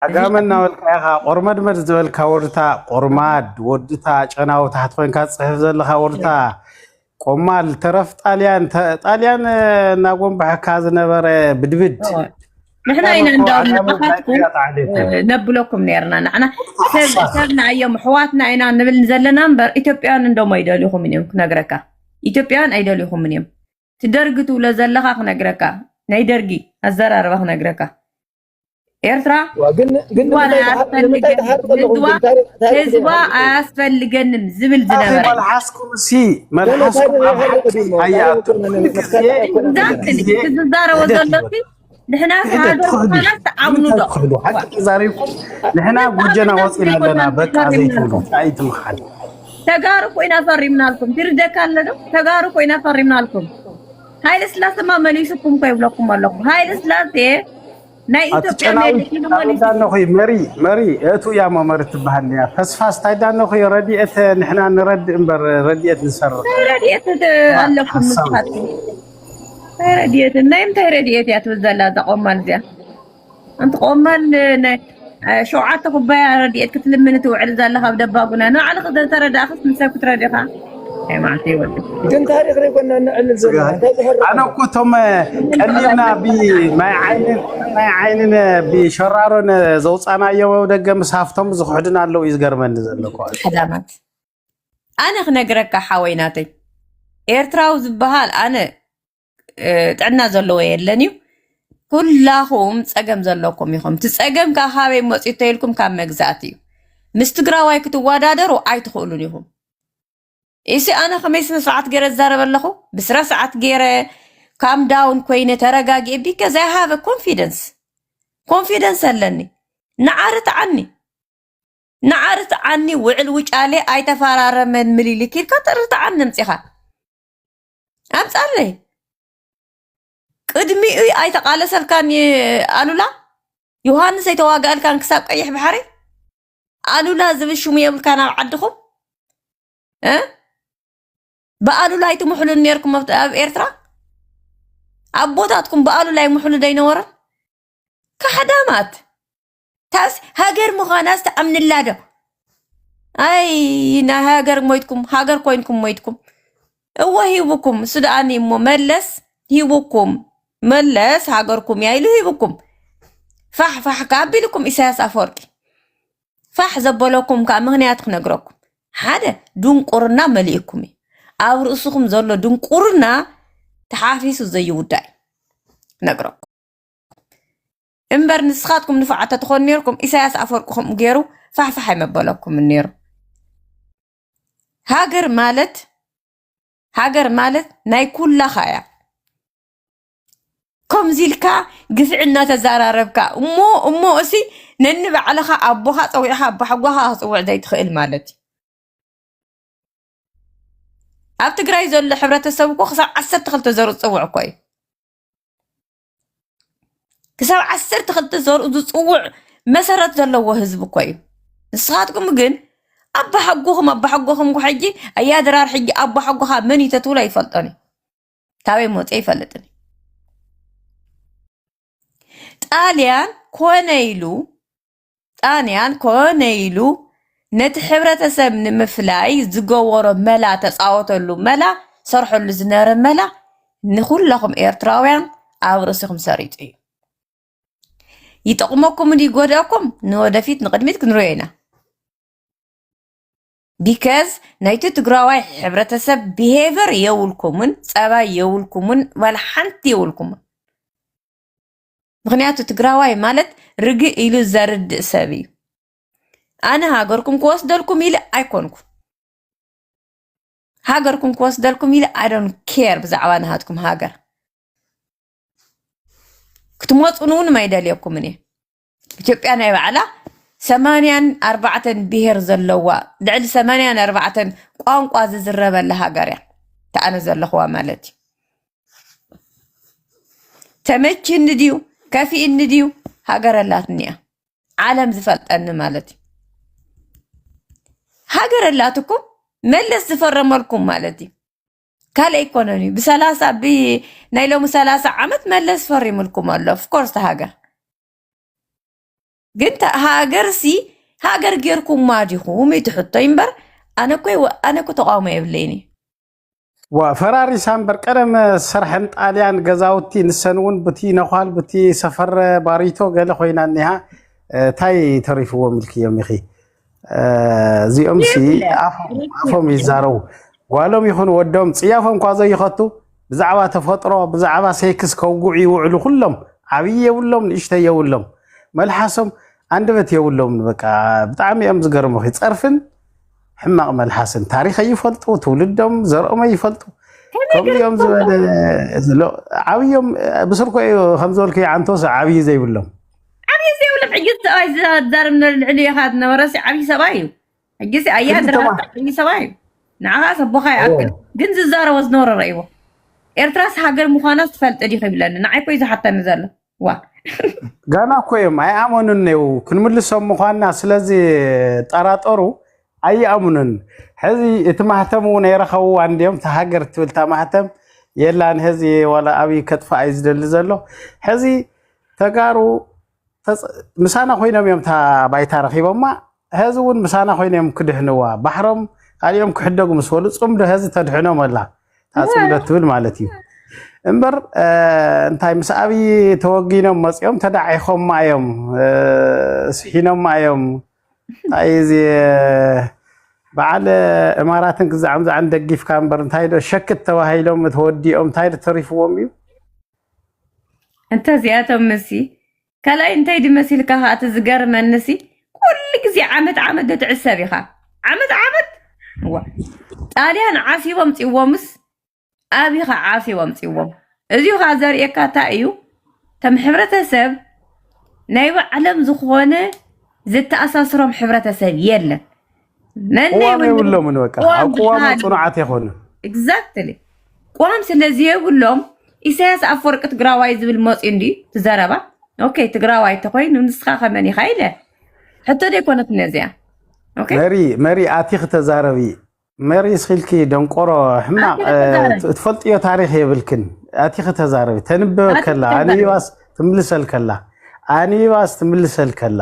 እዚ ዓጋመ ዓጋመ እናበልካ ኢኻ ቆርመድመድ ዝበልካ ወድታ ቆርማድ ወድታ ጨናዊ ታሕቲ ኮንካ ትፅሕፍ ዘለኻ ወድታ ቆማል ተረፍ ጣልያን ተ- ጣልያን እ፣ እናጎንባሐካ ዝነበረ ብድብድ እወ። ንሕና ዓጋመ ኢና እኮ እንዳውም ዓጋመ ናይ ንዓኻትኩም ቅያት ዓሌት እዩ እ፣ ነብለኩም ነርና ንዓና ወድታ ሰብ ሓሳኽ ሰብና እዮም ኣሕዋትና ኢና ንብል ዘለና እምበር ኢትዮጵያውያን እንደሞ ኣይደልኹምን እዮም ክነግረካ ኢትዮጵያውያን ኣይደልኹምን እዮም እቲ ደርጊ ትብሎ ዘለኻ ክነግረካ ናይ ደርጊ ኣዘራርባ ክነግረካ ኤርትራ ህዝባ ኣያስፈልገንም ዝብል ዝነበረ ትዛረቦ ዘሎሲ ንሕና ሃገር ምዃና ትኣምኑ ዶ ተዛሪብኩም ንሕና ጎጀና ወፂና ኣለና በቃ ዘይትብሉ ኣይትምሓል ተጋሩ ኮይና ፈሪምናልኩም ትርደካ ኣሎ ዶ ተጋሩ ኮይና ፈሪምናልኩም ሃይለ ስላሰማ መሊሱኩም እኮ ይብለኩም ኣለኩ ሃይለ ስላሴ ናይ ኢትዮጵያ ዳነኹ መሪ መሪ እቱ እያ መመሪ ትበሃል እያ ተስፋስ ታይ ዳነኹ ረድኤት ንሕና ንረድእ እምበር ረድኤት ንሰርቕ ረድኤት ኣለኩም ንስኻትኩም ታይ ረድኤት ናይ ምንታይ ረድኤት እያ ትብል ዘላ እዛ ቆማል እዚኣ ኣንቲ ቆማል ናይ ሸውዓተ ኩባያ ረድኤት ክትልምን ትውዕል ዘለኻ ኣብ ደባጉና ንባዕልኺ ዘተረዳእኽስ ንሰብ ክትረድኻ ናይ ማዕተ ይወድ ግን ታሪክ ዘይኮና ንዕልል ዘለና እንታይ ዝሕርቕ ኣነ እኮ እቶም ቀሊልና ብማይ ዓይንን ማይ ዓይንን ብሸራሮን ዘውፃናዮ ደገ ምስ ሃፍቶም ዝክሕዱን ኣለው እዩ ዝገርመኒ ዘሎ እኮ ሕዳማት ኣነ ክነግረካ ሓወይ ናተይ ኤርትራዊ ዝበሃል ኣነ ጥዕና ዘለዎ የለን እዩ። ኩላኹም ፀገም ዘለኩም ኢኹም። እቲ ፀገም ከዓ ካበይ መፅኡ ተይልኩም ካብ መግዛእቲ እዩ። ምስ ትግራዋይ ክትወዳደሩ ኣይትኽእሉን ኢኹም። ኢሲ ኣነ ከመይ ስነ ስርዓት ገይረ ዝዛረብ ኣለኹ ብስነ ስርዓት ገይረ ካም ዳውን ኮይነ ተረጋጊኤ ቢከዝ ኣይ ሃቭ ኮንፊደንስ ኮንፊደንስ ኣለኒ ንዓርት ዓኒ ንዓርት ዓኒ ውዕል ውጫሌ ኣይተፈራረመን ምሊልክ ኢልካ ጥርት ዓኒ ምፂኻ ኣብፃለይ ቅድሚኡ ኣይተቃለሰልካን ኣሉላ ዮሃንስ ኣይተዋጋእልካን ክሳብ ቀይሕ ባሕሪ ኣሉላ ዝብል ሽሙ የብልካን ኣብ ዓድኹም እ ብኣሉላ ኣይትምሕሉን ነርኩም ኣብ ኤርትራ ኣቦታትኩም ብኣሉላ ይምሕሉ ደይነበረን ካሕዳማት ታስ ሃገር ምዃናስ ትኣምንላ ዶ ኣይ ናይ ሃገር ሞይትኩም ሃገር ኮይንኩም ሞይትኩም እወ ሂቡኩም እሱ ደኣኒ እሞ መለስ ሂቡኩም መለስ ሃገርኩም እያ ኢሉ ሂቡኩም ፋሕ ፋሕ ከ ኣቢልኩም ኢሳያስ ኣፈወርቂ ፋሕ ዘበለኩም ከዓ ምክንያት ክነግረኩም ሓደ ድንቁርና መሊእኩም እዩ ኣብ ርእስኹም ዘሎ ድንቁርና ተሓፊሱ ዘይውዳእ ነግረኩም እምበር ንስኻትኩም ንፉዓት ተትኾኑ ነይርኩም ኢሳያስ ኣፈወርቂ ከምኡ ገይሩ ፋሕፋሕ ኣይመበለኩምን ነይሩ ሃገር ማለት ሃገር ማለት ናይ ኩላኻ እያ ከምዚ ኢልካ ግፍዒ እናተዘራረብካ እሞ እሞ እሲ ነንባዕልኻ ኣቦኻ ፀዊዕኻ ኣባሓጓኻ ክፅውዕ ዘይትኽእል ማለት እዩ ኣብ ትግራይ ዘሎ ሕብረተሰብ እኮ ክሳብ ዓሰርተ ክልተ ዘሩ ዝፅውዕ እኮ እዩ ክሳብ ዓሰርተ ክልተ ዘርኡ ዝፅውዕ መሰረት ዘለዎ ህዝቢ እኮ እዩ ንስኻትኩም ግን ኣባሓጎኹም ኣባሓጎኹም እኮ ሕጂ ኣያ ድራር ሕጂ ኣባሓጎኻ መን እዩ ተትብሎ ኣይፈልጦን እዩ ካበይ መፅ ይፈልጥን እዩ ጣልያን ኮነ ኢሉ ጣንያን ኮነ ኢሉ ነቲ ሕብረተሰብ ንምፍላይ ዝገበሮ መላ ተጻወተሉ መላ ሰርሐሉ ዝነበረ መላ ንኩለኹም ኤርትራውያን ኣብ ርእሲኹም ሰሪጹ እዩ። ይጠቕመኩም ድዩ ይጎድኣኩም ንወደፊት ንቕድሚት ክንሪኦ ኢና። ቢከዝ ናይቲ ትግራዋይ ሕብረተሰብ ብሄቨር የብልኩምን፣ ጸባይ የብልኩምን፣ ዋላ ሓንቲ የብልኩምን። ምክንያቱ ትግራዋይ ማለት ርግእ ኢሉ ዘርድእ ሰብ እዩ ኣነ ሃገርኩም ክወስደልኩም ኢለ ኣይኮንኩ ሃገርኩም ክወስደልኩም ኢለ ኣይዶን ኬር ብዛዕባ ናሃትኩም ሃገር ክትመፁን እውን ማይደልየኩምን እየ ኢትዮጵያ ናይ ባዕላ ሰማንያን ኣርባዕተን ብሄር ዘለዋ ልዕሊ ሰማንያን ኣርባዕተን ቋንቋ ዝዝረበላ ሃገር እያ ተኣነ ዘለኹዋ ማለት እዩ ተመችኒ ድዩ ከፊእኒ ድዩ ሃገር ኣላትኒ እያ ዓለም ዝፈልጠኒ ማለት እዩ ሃገር ኣላትኩም መለስ ዝፈረመልኩም ማለት እዩ ካልእ ኣይኮነን እዩ ብሰላሳ ብናይ ሎሚ ሰላሳ ዓመት መለስ ፈሪምልኩም ኣሎ ፍኮርስ ሃገር ግን ሃገር ሲ ሃገር ጌርኩማ ዲኹም እዩ ትሕቶ እምበር ኣነ እኮ ተቃውሞ የብለይን እዩ ዋ ፈራሪሳ እምበር ቀደም ዝሰርሐን ጣልያን ገዛውቲ ንሰን እውን ብቲ ነዃል ብቲ ሰፈረ ባሪቶ ገለ ኮይና እኒሃ እንታይ ተሪፍዎም ኢልክዮም ኢኺ እዚኦም ሲ ኣፎም ይዛረቡ ጓሎም ይኹን ወዶም ፅያፎም እኳ ዘይኸቱ ብዛዕባ ተፈጥሮ ብዛዕባ ሴክስ ከውግዑ ይውዕሉ ኩሎም ዓብዪ የብሎም ንእሽተ የብሎም መልሓሶም ኣንደበት የብሎም በቃ ብጣዕሚ እዮም ዝገርሙኺ ፀርፍን ሕማቕ መልሓስን ታሪክ ኣይፈልጡ ትውልዶም ዘርኦም ኣይፈልጡ ከምኡ እዮም ዝበለ ዓብዮም ብስርኮ እዩ ከምዝበልኩ ዓንቶስ ዓብዪ ዘይብሎም ዓብዪ ዘይብሎም ሕጂ ሰብኣይ ዝዛርብ ልዕሊ ኢኻ ዝነበረሲ ዓብዪ ሰብኣይ እዩ ሕጂሲ ኣያ ድራ ዓብዪ ሰብኣይ እዩ ንዓኻ ሰቦኻ ይኣክል ግን ዝዛረቦ ዝነበረ ረእይዎ ኤርትራስ ሃገር ምዃና ዝፈልጥ ዲኺ ይብለኒ ንዓይ ኮዩ ዝሓተኒ ዘሎ ዋእ ገና እኮ እዮም ኣይኣመኑን ኔው ክንምልሶም ምኳንና ስለዚ ጠራጠሩ ኣይኣምኑን ሕዚ እቲ ማህተም እውን የረኸብዋ እንዲኦም እቲ ሃገር ትብል እታ ማህተም የላን ሕዚ ዋላ ኣብይ ከጥፋ እዩ ዝደሊ ዘሎ ሕዚ ተጋሩ ተፅ- ምሳና ኮይኖም እዮም እታ ባይታ ረኪቦማ ሀዚ እውን ምሳና ኮይኖም እዮም ክድሕንዋ ባሕሮም ካሊኦም ክሕደጉ ምስ በሉ ፅምዶ ሀዚ ተድሕኖም ኣላ እታ ፅምዶ ትብል ማለት እዩ እምበር እንታይ ምስ ኣብይ ተወጊኖም መፂኦም ተዳዒኾማ እዮም ስሒኖማ እዮም እንታይ እዚ በዓል እማራትን ክዛዕም ዛዕን ደጊፍካ እምበር እንታይ ዶ ሸክት ተባሂሎም ተወዲኦም እንታይ ዶ ተሪፍዎም እዩ እንተዚኣቶም ምሲ ካልኣይ እንታይ ድዩ መሲልካ ከኣ እቲ ዝገርመኒሲ ኩሉ ግዜ ዓመት ዓመት ዶ ትዕሰብ ኢኻ ዓመት ዓመት እዋ ጣልያን ዓስቦ ኣምጺዎምስ ኣብኻ ዓስቦ ኣምጺዎም እዚኡ ከኣ ዘርእየካ እንታይ እዩ ከም ሕብረተሰብ ናይ ባዕሎም ዝኾነ ዘተኣሳስሮም ሕብረተሰብ የለን ቅዋም የብሎምን በቃ ኣብ ቅዋም ፅኑዓት የኮኑ ኤግዛክትሊ ቅዋም ስለዘየብሎም ኢሳያስ ኣፈወርቂ ትግራዋይ ዝብል መፅኡ እንድዩ ትዘረባ ኦኬ ትግራዋይ ተኮይኑ ንስካ ከመን ኢካ ኢለ ሕቶ ዘይኮነት ነዚያ መሪ መሪ ኣቲክ ተዛረቢ መሪ ስኪልኪ ደንቆሮ ሕማቅ ትፈልጥዮ ታሪክ የብልክን ኣቲክ ተዛረቢ ተንበበ ከላ ኣንቢባስ ትምልሰል ከላ ኣንቢባስ ትምልሰል ከላ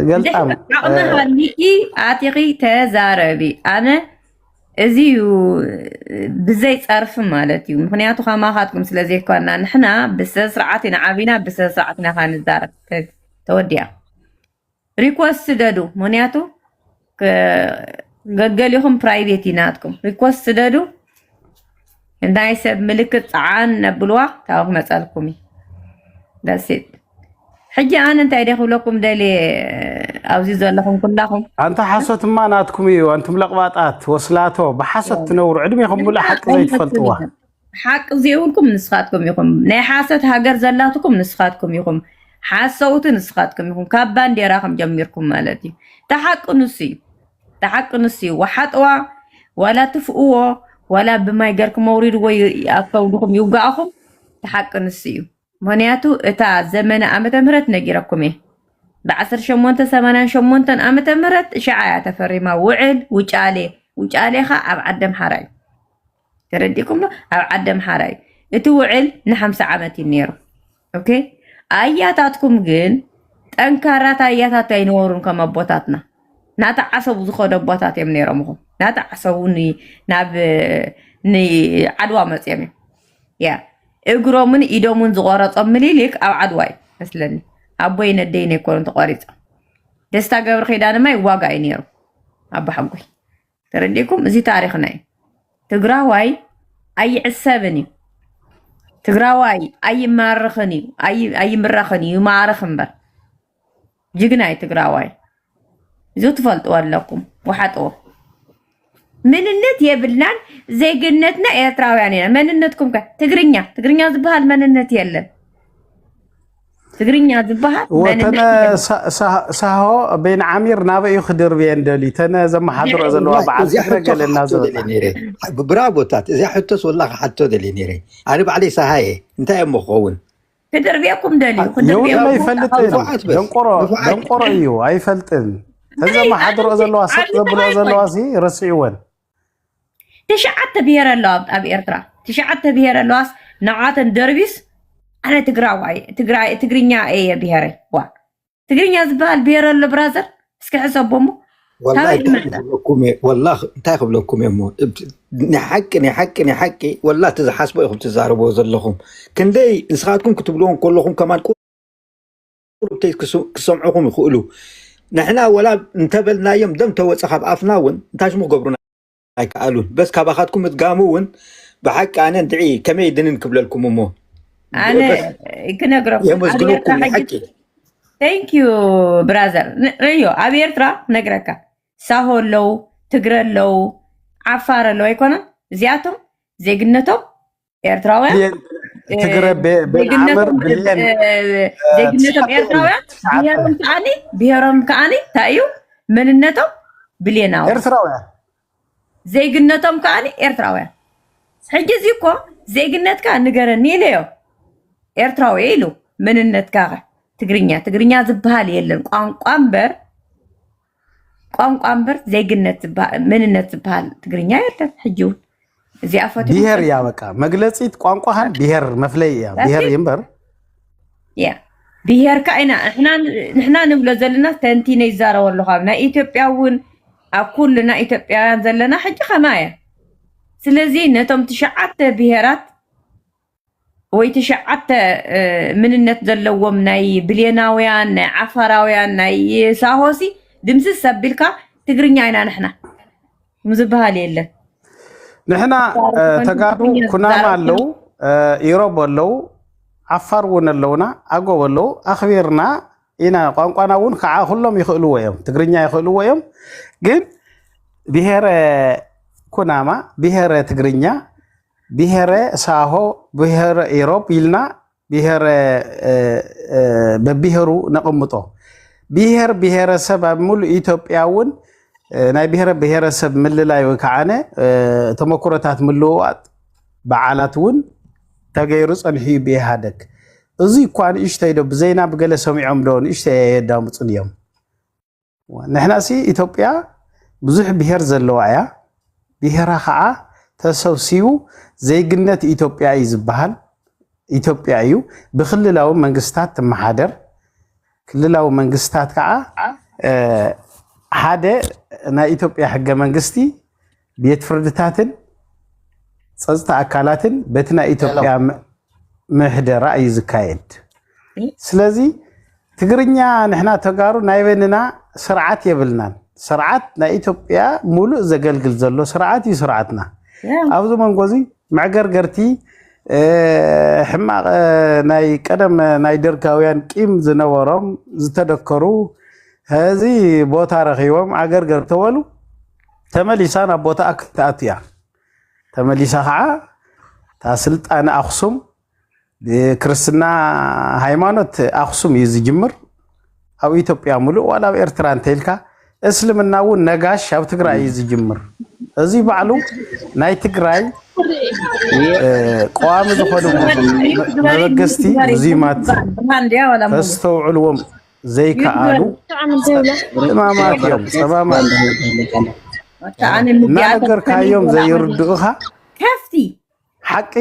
ገልጣም ዓቕሚ ሃሊኪ ኣቲኺ ተዛረቢ ኣነ እዚ እዩ ብዘይ ፀርፊ ማለት እዩ ምክንያቱ ከማኻትኩም ስለዘይኮና ንሕና ብስነስርዓት ኢና ዓብና ብስነስርዓት ኢና ንዛረብ ተወዲኣ ሪኮስ ስደዱ ምክንያቱ ገገሊኹም ፕራይቬት እዩ ናትኩም ሪኮስት ስደዱ ናይ ሰብ ምልክት ፀዓን ነብልዋ ካብኡ ክመፀልኩም እዩ ደሴት ሕጂ ኣነ እንታይ ደ ክብለኩም ደልየ ኣብዚ ዘለኹም ኩላኹም ኣንታ ሓሶትማ ናትኩም እዩ ኣንቱም ለቕባጣት ወስላቶ ብሓሶት ትነብሩ ዕድሜኹም ሙሉእ ሓቂ ዘይትፈልጥዋ ሓቂ ዜብልኩም ንስኻትኩም ኢኹም። ናይ ሓሰት ሃገር ዘላትኩም ንስኻትኩም ኢኹም። ሓሰውቲ ንስኻትኩም ኢኹም። ካብ ባንዴራኹም ጀሚርኩም ማለት እዩ። እቲ ሓቂ ንሱ እዩ። እቲ ሓቂ ንሱ እዩ። ወሓጥዋ ዋላ ትፍእዎ ዋላ ብማይ ገርኩም ኣውሪድዎ ኣብ ከብድኹም ይውጋእኹም። እቲ ሓቂ ንሱ እዩ። ምክንያቱ እታ ዘመነ ዓመተ ምህረት ነጊረኩም እየ ብ1888 ዓመተ ምህረት እሻዓ እያ ተፈሪማ ውዕል ውጫሌ ውጫሌ ኸ ኣብ ዓዲ ኣምሓራ እዩ ተረዲእኩም ዶ? ኣብ ዓዲ ኣምሓራ እዩ እቲ ውዕል ንሓምሳ ዓመት እዩ ነይሩ። ኦኬ ኣያታትኩም ግን ጠንካራት ኣያታት ኣይነበሩን ከም ኣቦታትና ናቲ ዓሰቡ ዝኸዱ ኣቦታት እዮም ነይሮም ኹም ናቲ ዓሰቡ ን- ናብ ንዓድዋ መፅዮም እዮም ያ እግሮምን ኢዶምን ዝቆረፆም ምኒልክ ኣብ ዓድዋ እዩ መስለኒ ኣቦይ ነደይ ነይኮኑ ተቆሪፆም ደስታ ገብረ ኪዳንማ ይዋጋ እዩ ነይሩ ኣባሓጎይ ተረዲእኩም? እዚ ታሪኽና እዩ። ትግራዋይ ኣይዕሰብን እዩ። ትግራዋይ ኣይማርኽን እዩ፣ ኣይምረኽን እዩ፣ ይማርኽ እምበር ጅግና እዩ ትግራዋይ። እዚ ትፈልጥዎ ኣለኩም፣ ወሓጥዎ መንነት የብልናን፣ ዜግነትና ኤርትራውያን ኢና። መንነትኩም ከ ትግርኛ ትግርኛ ዝበሃል መንነት የለን። ትግርኛ ዝበሃል ወተነ ሳሆ ቤን ዓሚር ናበይ እዩ ክድርብየን ደልዩ ተነ ዘመሓድሮ ዘለዋ በዓል ፍረ ገለ እናዘበጣ ብራቦታት እዚያ ሕቶስ ወላ ክሓቶ ደልየ ነይረ ኣነ ባዕለይ ሳሃየ እንታይ እሞ ክኸውን ክድርብየኩም ደልዩ የውነ ይፈልጥን ደንቆሮ ደንቆሮ እዩ ኣይፈልጥን ተዘመሓድሮ ዘለዋ ሰጥ ዘብልኦ ዘለዋ ሲ ረስዕወን ትሽዓተ ብሄር ኣለዋ ኣብ ኤርትራ ትሽዓተ ብሄር ኣለዋስ ንዓተን ደርቢስ ኣነ ትግራዋይ ትግራይ ትግርኛ እየ ብሄረይ ዋ ትግርኛ ዝበሃል ብሄር ኣሎ ብራዘር እስኪ ሕሰቦ እሞ ወላሂ ካበይ እንታይ ይመጽእ ክብለኩም እየ ወላ እንታይ ክብለኩም እየ እሞ እብ- ናይ ሓቂ ናይ ሓቂ ናይ ሓቂ ወላ እቲ ዝሓስቦ ኢኹም ትዛረብዎ ዘለኹም ክንደይ ንስኻትኩም ክትብልዎ ከለኹም ከማን ቁ- ቁርብተይ ክሰምዑኹም ይኽእሉ ንሕና ወላ እንተበልናዮም ደም ተወፀ ካብ ኣፍና እውን እንታይ ሽሙ ክገብሩና ኣይከኣሉን በስ ካባኻትኩም ምድጋሙ እውን ብሓቂ ኣነ እንድዒ ከመይ ድንን ክብለልኩም እሞ ኣነ ክነግረኩም የመስግነኩም ሓቂ ቴንክ ዩ ብራዘር ርእዮ ኣብ ኤርትራ ነግረካ ሳሆ ኣለው ትግረ ኣለው ዓፋር ኣለው ኣይኮነን እዚኣቶም ዜግነቶም ኤርትራውያን ብሌን እ፣ ትግረ ቤ- ቤን ዓምር ዜግነቶም እ፣ ብሌን እ፣ እ፣ ዜግነቶም ትሽዓተ እዮም ኤርትራውያን ትሽዓተ ብሄሮም ከዓኒ ብሄሮም ከዓኒ እንታይ እዩ መንነቶም ብሌናዊ ኤርትራውያን ዜግነቶም ከዓኒ ኤርትራውያን ሕጂ እዚ እኮ ዜግነትካ ንገረኒ ኢለዮ ኤርትራዊ እየ ኢሉ መንነትካ ከ ትግርኛ ትግርኛ ዝበሃል የለን ቋንቋ እምበር ቋንቋ እምበር ዜግነት ዝበሃል መንነት ዝበሃል ትግርኛ የለን ሕጂ እውን እዚኣ ፈትዮም ብሄር እያ ፈልጦም በቃ መግለፂት ቋንቋኻን ብሄር መፍለይ እያ That's ብሄር it። እዩ እምበር እያ ብሄርካ ኢና ንሕና ንሕና ንብሎ ዘለና ተንቲነ ይዛረቦ ኣለኹ ኣብ ናይ ኢትዮጵያ እውን ኣብ ኩልና ኢትዮጵያውያን ዘለና ሕጂ ከማያ ስለዚ ነቶም ትሽዓተ ብሄራት ወይ ትሽዓተ ምንነት ዘለዎም ናይ ብሌናውያን ናይ ዓፋራውያን ናይ ሳሆሲ ድምስስ ኣቢልካ ትግርኛ ኢና ንሕና ምዝበሃል የለን ንሕና ተጋሩ ኩናማ ኣለው ኢሮብ ኣለው ዓፋር እውን ኣለውና ኣጎብ ኣለው ኣኽቢርና ኢና ቋንቋና እውን ከዓ ኩሎም ይኽእልዎ እዮም ትግርኛ ይኽእልዎ እዮም ግን ብሄረ ኩናማ ብሄረ ትግርኛ ብሄረ ሳሆ፣ ብሄረ ኢሮብ ኢልና ብሄረ በብሄሩ ነቕምጦ። ብሄር ብሄረሰብ ኣብ ሙሉእ ኢትዮጵያ እውን ናይ ብሄረ ብሄረሰብ ምልላይ ወይ ከዓነ ተመክሮታት ምልውዋጥ በዓላት እውን ተገይሩ ፀንሑ እዩ ብኢህኣደግ። እዙይ እኳ ንእሽተይ ዶ ብዘይና ብገለ ሰሚዖም ዶ ንእሽተይ ኣየዳምፁን እዮም። ንሕናሲ ኢትዮጵያ ብዙሕ ብሄር ዘለዋ እያ ብሄራ ከዓ ተሰብሲቡ ዜግነት ኢትዮጵያ እዩ ዝበሃል ኢትዮጵያ እዩ ብክልላዊ መንግስታት ትመሓደር ክልላዊ መንግስታት ከዓ ሓደ ናይ ኢትዮጵያ ሕገ መንግስቲ ቤት ፍርድታትን ፀፅታ ኣካላትን በቲ ናይ ኢትዮጵያ ምሕደራ እዩ ዝካየድ። ስለዚ ትግርኛ ንሕና ተጋሩ ናይ በንና ስርዓት የብልናን። ስርዓት ናይ ኢትዮጵያ ሙሉእ ዘገልግል ዘሎ ስርዓት እዩ ስርዓትና። ኣብዚ መንጎ እዚ መዕገርገርቲ ሕማቕ ናይ ቀደም ናይ ደርጋውያን ቂም ዝነበሮም ዝተደከሩ እዚ ቦታ ረኪቦም ዓገርገር ተበሉ ተመሊሳ ናብ ቦታኣ ክትኣቱ እያ። ተመሊሳ ከዓ እታ ስልጣነ ኣክሱም ብክርስትና ሃይማኖት ኣክሱም እዩ ዝጅምር ኣብ ኢትዮጵያ ሙሉእ ዋላ ኣብ ኤርትራ እንተይልካ እስልምና እውን ነጋሽ ኣብ ትግራይ እዩ ዝጅምር። እዚ ባዕሉ ናይ ትግራይ ቀዋሚ ዝኾኑ መበገስቲ ሙዚማት ተስተውዕልዎም ዘይከኣሉ እማማት እዮም ፀማማት እናነገርካዮም ዘይርድኡኻ ከፍቲ ሓቂ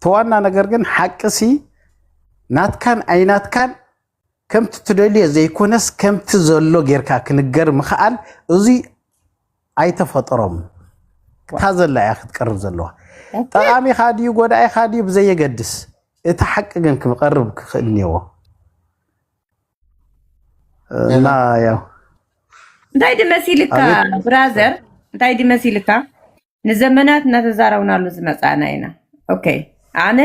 ተዋና ነገር ግን ሓቂ ሲ ናትካን ኣይናትካን ከምቲ ትደልዮ ዘይኮነስ ከምቲ ዘሎ ጌርካ ክንገር ምኽኣል እዙይ ኣይተፈጥሮም እታ ዘላ እያ ክትቀርብ ዘለዋ ጠቃሚካ ድዩ ጎዳኢካ ድዩ ብዘየገድስ እቲ ሓቂ ግን ክቐርብ ክኽእል እኒዎ እና ያው እንታይ ድመሲልካ ብራዘር እንታይ ድመሲልካ ንዘመናት እናተዛረብናሉ ዝመፃእና ኢና ኦኬ ኣነ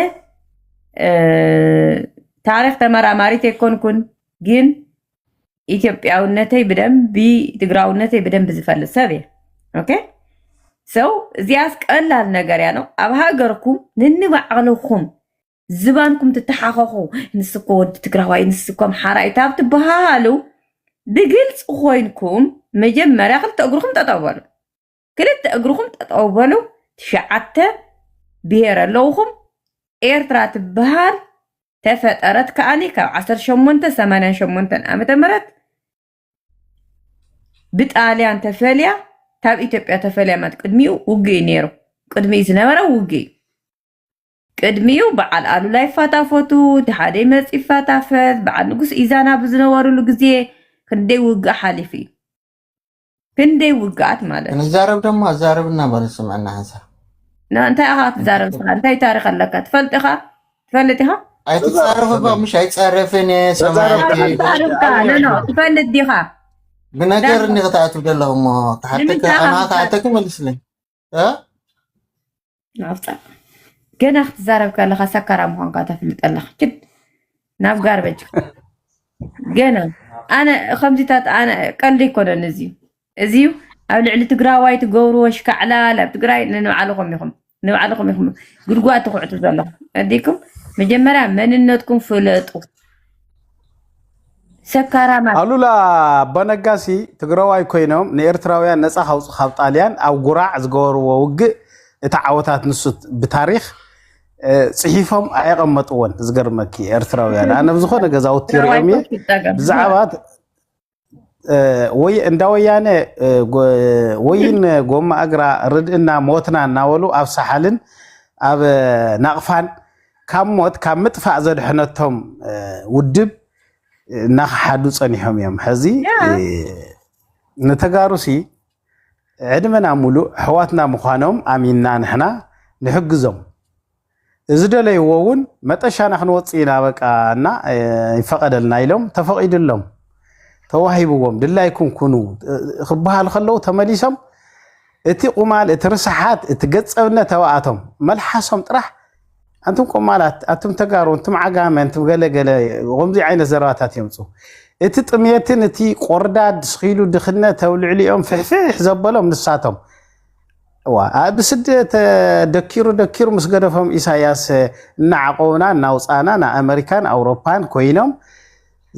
ታሪክ ተመራማሪት ኣይኮንኩን ግን ኢትዮጵያውነተይ ብደንቢ ትግራውነተይ ብደንቢ ዝፈልጥ ሰብ እየ ኦኬ ሰው እዚኣስ ቀላል ነገር እያ ነው ኣብ ሃገርኩም ንንባዕልኹም ዝባንኩም ትተሓኸኹ ንስኮ ወዲ ትግራዋይ ንስኮ ኣምሓራይ ካብ ትበሃሃሉ ብግልፂ ኮይንኩም መጀመርያ ክልተ እግርኹም ጠጠው በሉ ክልተ እግርኹም ጠጠው በሉ ትሽዓተ ብሄር ኣለውኹም ኤርትራ ትበሃል ተፈጠረት ከኣኒ ካብ ዓሰርተ ሸሞንተ ሰማንያን ሸሞንተን ዓመተ ምህረት ብጣልያን ተፈልያ ካብ ኢትዮጵያ ተፈልያ ማለት ቅድሚኡ ውግእ እዩ ነይሩ ቅድሚ ዝነበረ ውግእ እዩ ቅድሚኡ በዓል ኣሉላ ይፋታፈቱ እቲ ሓደ ይመፅ ይፋታፈት በዓል ንጉስ ኢዛና ብዝነበሩሉ ግዜ ክንደይ ውግእ ሓሊፉ እዩ ክንደይ ውግኣት ማለት እዩ። ክንዛረብ ደሞ ኣዛረብና በሉ ስምዕና ሓንሳ ና- እንታይ ኢኻ ክትዛረብ ስኻ እንታይ ታሪክ ኣለካ ትፈልጥ ኢኻ ትፈልጥ ኢኻ ኣይትፃረፍ እባ ምሽ ኣይፃረፍን እየ ተዛረብ ሰማዕቲ ደሓን ደረጃ ተዛርብካ ኣበይ ነኖ ኣለኹ ትፈልጥ ዲኻ ብነገር እኒ ክትኣትው ደለኹ እሞ ክሓተካ ንምንታይ ኢኻ ኣማ ክትዛረብ ክሓተክ መልስለይ ናፍጣ ገና ክትዛረብ ከለካ ሰካራ ምኳንካ ተፍልጥ ኣለካ ችድ ናብ ጋርበጅ ገና ኣነ ከምዚታት ኣነ ቀልዲ ይኮነን እዚ እዚ ኣብ ልዕሊ ትግራዋይ ትገብርዎ ሽካዕላል ኣብ ትግራይ ንባዕልኹም ኢኹም ንባዕልኹም ኢኹም ጉድጓድ ትኩዕቱ ዘለኹም ኣዲኩም መጀመርያ መንነትኩም ፍለጡ ሰካራማት ኣሉላ ኣባነጋሲ ትግራዋይ ኮይኖም ንኤርትራውያን ነፃ ካውፅ ካብ ጣልያን ኣብ ጉራዕ ዝገበርዎ ውግእ እቲ ዓወታት ንሱ ብታሪክ ፅሒፎም ኣየቐመጥዎን ዝገርመኪ ኤርትራውያን ኣነ ብዝኾነ ገዛውቲ ሪኦም እየ ብዛዕባ ወይ እንዳ ወያነ ወይን ጎማ እግራ ርድእና ሞትና እናበሉ ኣብ ሳሓልን ኣብ ናቕፋን ካብ ሞት ካብ ምጥፋእ ዘድሐነቶም ውድብ እናኸሓዱ ፀኒሖም እዮም። ሕዚ ንተጋሩሲ ዕድመና ሙሉእ ሕዋትና ምዃኖም ኣሚንና ንሕና ንሕግዞም። ዝደለይዎ እውን መጠሻና ክንወፅእ ኢና በቃ እና ይፈቐደልና ኢሎም ተፈቒዱሎም ተዋሂብዎም ድላይኩም ኩኑ ክበሃል ከለዉ ተመሊሶም እቲ ቁማል እቲ ርስሓት እቲ ገፀብነት ኣብኣቶም መልሓሶም ጥራሕ ኣንቱም ቆማላት ኣቱም ተጋሩ እንቱም ዓጋመ እንቱም ገለገለ ከምዚ ዓይነት ዘረባታት የምፁ እቲ ጥሜትን እቲ ቆርዳድ ስኪሉ ድኽነት ኣብ ልዕሊኦም ፍሕፍሕ ዘበሎም ንሳቶም እዋ ኣብ ስደት ደኪሩ ደኪሩ ምስ ገደፎም ኢሳያስ እናዓቆቡና እናውፃእና ንኣመሪካን ኣውሮፓን ኮይኖም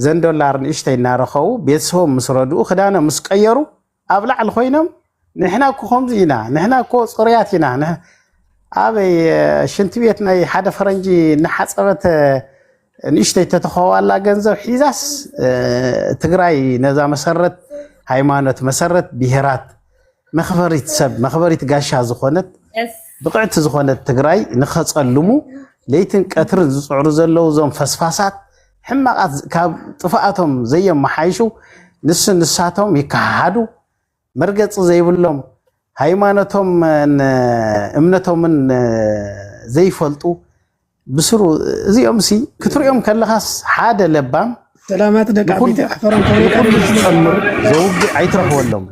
ዘን ዶላር ንእሽተይ እናረኸቡ ቤተሰቦም ምስ ረድኡ ክዳኖም ምስ ቀየሩ ኣብ ላዕሊ ኮይኖም ንሕና እኮ ከምዚ ኢና ንሕና እኮ ፅሩያት ኢና ኣበይ ሽንቲ ቤት ናይ ሓደ ፈረንጂ እናሓፀበት ንእሽተይ ተተኸዋላ ገንዘብ ሒዛስ ትግራይ ነዛ መሰረት ሃይማኖት መሰረት ብሄራት መክበሪት ሰብ መክበሪት ጋሻ ዝኾነት ብቕዕቲ ዝኾነት ትግራይ ንኸፀልሙ ለይትን ቀትርን ዝፅዕሩ ዘለዉ እዞም ፈስፋሳት ሕማቓት ካብ ጥፍኣቶም ዘየመሓይሹ ንሱ ንሳቶም ይከሓሓዱ መርገጺ ዘይብሎም ሃይማኖቶምን እምነቶምን ዘይፈልጡ ብስሩ እዚኦም ሲ ክትሪኦም ከለኻስ ሓደ ለባም ሰላማት ደቂ ዓበይቲ ኣሕፈሮም ንኩሉ ዝፀምር ዘውግእ ኣይትረኽበሎም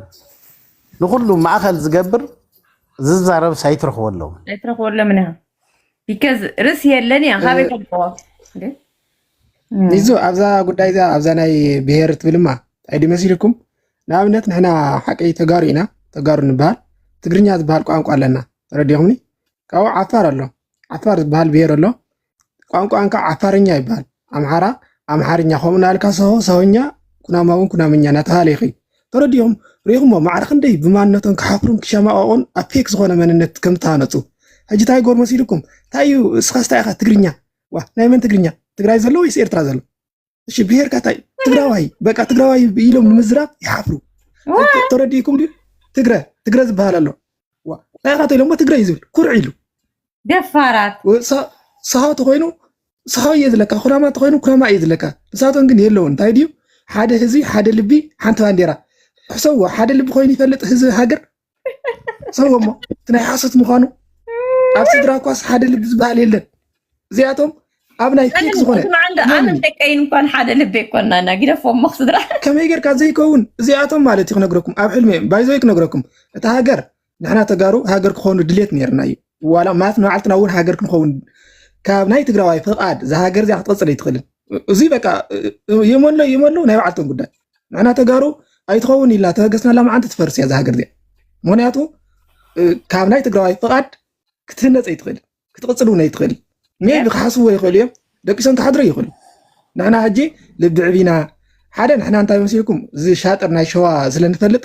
ንኩሉ ማእኸል ዝገብር ዝዛረብስ ኣይትረኽበሎም ኣይትረኽበሎም ኢና ቢከዝ ርስ የለን እያ ካበይ ፈልጠዎ ይዞ ኣብዛ ጉዳይ እዚኣ ኣብዛ ናይ ብሄር ትብልማ እንታይ ድዩ መሲልኩም ንኣብነት ንሕና ሓቂ ተጋሩ ኢና ተጋሩ ንበሃል ትግርኛ ዝበሃል ቋንቋ ኣለና ተረዲኹምኒ ካብኡ ዓፋር ኣሎ ዓፋር ዝበሃል ብሄር ኣሎ ቋንቋን ከዓ ዓፋርኛ ይበሃል ኣምሓራ ኣምሓርኛ ከምኡ ናልካ ሰሆ ሰሆኛ ኩናማ እውን ኩናምኛ እናተባሃለ ይኸይድ ተረዲኹም ሪኹሞ ማዕረ ክንደይ ብማንነቶም ክሓፍሩን ክሸማቐቑን ኣብ ፌክ ዝኾነ መንነት ከም ዝተሃነፁ ሕጂ እንታይ ጎር መሲልኩም እንታይ እዩ እስኻ ስታይ ኢኻ ትግርኛ ዋ ናይ መን ትግርኛ ትግራይ ዘሎ ወይስ ኤርትራ ዘሎ እሺ ብሄርካ እንታይ ትግራዋይ በቃ ትግራዋይ ኢሎም ንምዝራብ ይሓፍሩ ተረዲእኩም ድዩ ትግረ ትግረ ዝበሃል ኣሎ ናይ ካቶ ኢሎሞ ትግረ እዩ ዝብል ኩርዕ ኢሉ ደፋራት ሰሃው ተኮይኑ ሰሃው እየ ዝለካ ኩናማ ተኮይኑ ኩናማ እየ ዝለካ ንሳቶም ግን የለውን እንታይ ድዩ ሓደ ህዝቢ ሓደ ልቢ ሓንቲ ባንዴራ ሕሰዎ ሓደ ልቢ ኮይኑ ይፈልጥ ህዝቢ ሃገር ሰው እሞ እቲ ናይ ሓሶት ምዃኑ ኣብ ስድራ እኳስ ሓደ ልቢ ዝበሃል የለን እዚኣቶም ኣብ ናይ ፌክ ዝኾነ ኣነን ደቀይን እንኳን ሓደ ልቢ ይኮናና ጊደፎ እሞ ስድራ ከመይ ጌርካ ዘይከውን እዚኣቶም ማለት እዩ ክነግረኩም ኣብ ሕልሚ እዮም ባይዞይ ክነግረኩም እታ ሃገር ንሕና ተጋሩ ሃገር ክኾኑ ድሌት ነርና እዩ ዋላ ማለት ንባዕልትና እውን ሃገር ክንኸውን ካብ ናይ ትግራዋይ ፍቓድ እዛ ሃገር እዚኣ ክትቐፅል ኣይትኽእልን እዙይ በቃ የመሎ የመሎ ናይ ባዕልቶም ጉዳይ ንሕና ተጋሩ ኣይትኸውን ኢልና ተበገስናላ መዓንቲ ትፈርስ እያ ዝሃገር እዚኣ። ምክንያቱ ካብ ናይ ትግራዋይ ፍቓድ ክትህነፅ ኣይትኽእል ክትቕፅል እውን ኣይትኽእል። ሜቢ ክሓስብዎ ይኽእሉ እዮም ደቂሶም ክሓድሩ ይኽእሉ። ንሕና ሕጂ ልቢ ዕቢና ሓደ ንሕና እንታይ መሲልኩም እዚ ሻጥር ናይ ሸዋ ስለንፈልጥ